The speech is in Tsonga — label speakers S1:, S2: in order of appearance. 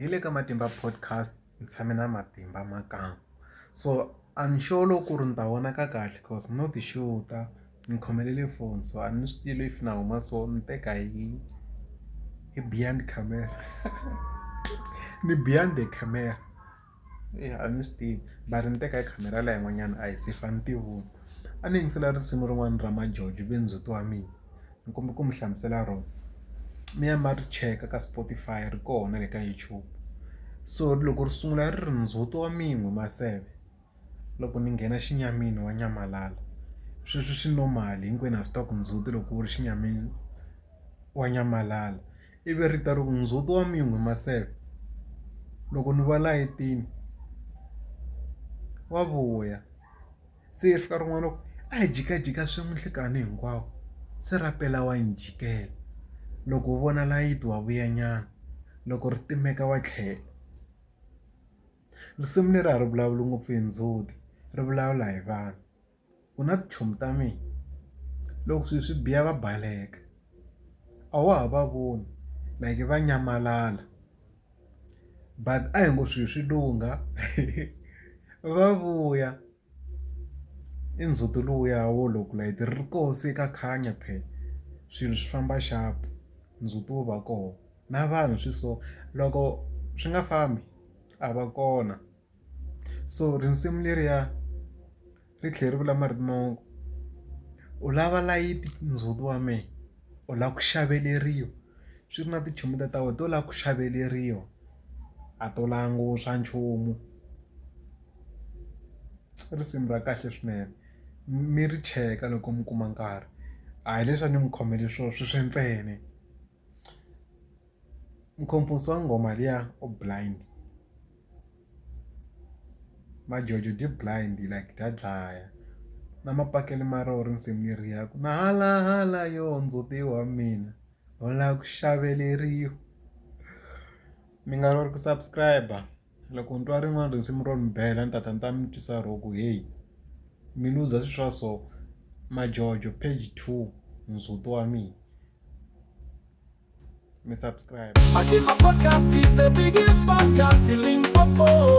S1: Hi le ka Matimba Podcast ni tshame na Matimba Makamu. So a ni sure loko ku ri ni ta vonaka kahle cause no ti xuta, ni khomelele foni so a ni swi tivi if na huma so ni teka hi hi behind camera ni behind the camera. Eya a ni swi tivi mara ni teka hi khamera liya yin'wanyana a hi se fa ni tivoni a ni yingisela risimu rin'wana ra majojo ivi ndzhuti wa mina ni kombela ku mi hlamusela rona mi ya ma ri cheka ka Spotify ri kona le ka YouTube so loko ri sungula ri ri ndzhuti wa mina maseve loko ni nghena xinyamini wa nyamalala sweswo swi normal hinkwenu ha swi tiva ku ndzhuti loko wu ri xinyamini wa nyamalala. Ivi ri ta ri ku, Ndzhuti wa min'we maseve, loko ni va la etini wa vuya. Se yi fika rin'wana ku, a hi jikajika swin'we nhlikani hinkwawo, se ra pela wa ni jikela. Loko u vona layiti wa vuyanyana, loko ri timeka wa tlhela. Risimu leri a ri vulavuli ngopfu hi ndzhuti, ri vulavula hi vanhu. u na tichomi ta mina loko swilo swi biha va baleka a wa ha va voni like va nyamalala but a hi ngo swilo swi lungha va vuya i ndzhuti lowuya wo loko light ri koho se ka khanya phela swilo swi famba xapu ndzhuti wo va kona na vanhu swi so loko swi nga fambi a va kona. so risimu leriya ri tlhela ri vula marito mo u lava layiti ndzhuti wa mina u lava ku xaveleriwa swi ri na tintsumi ta ta wena to lava ku xaveleriwa a to languta nchumu i risimu ra kahle swinene mi ri cheka loko mi kuma nkarhi a hi leswi a ni mi khomele swona swi swi ntsena. Mkhomposi wa nghoma liya u blind majojo byi blind like bya dlaya na mapakele ma roho risimu leriya ku na hala hala yoh ndzhuti wa mina u la ku xaveleriwa mi nga ku subscribe. Loko ni twa rin'wana risimu ro ni bela ni ta ta ni ta mi twisa ro ku heyi mi luza swi swa so majojo page two ndzhuti wa mina
S2: mi subscribe. Matimba Podcast is the biggest podcast in
S1: Limpopo.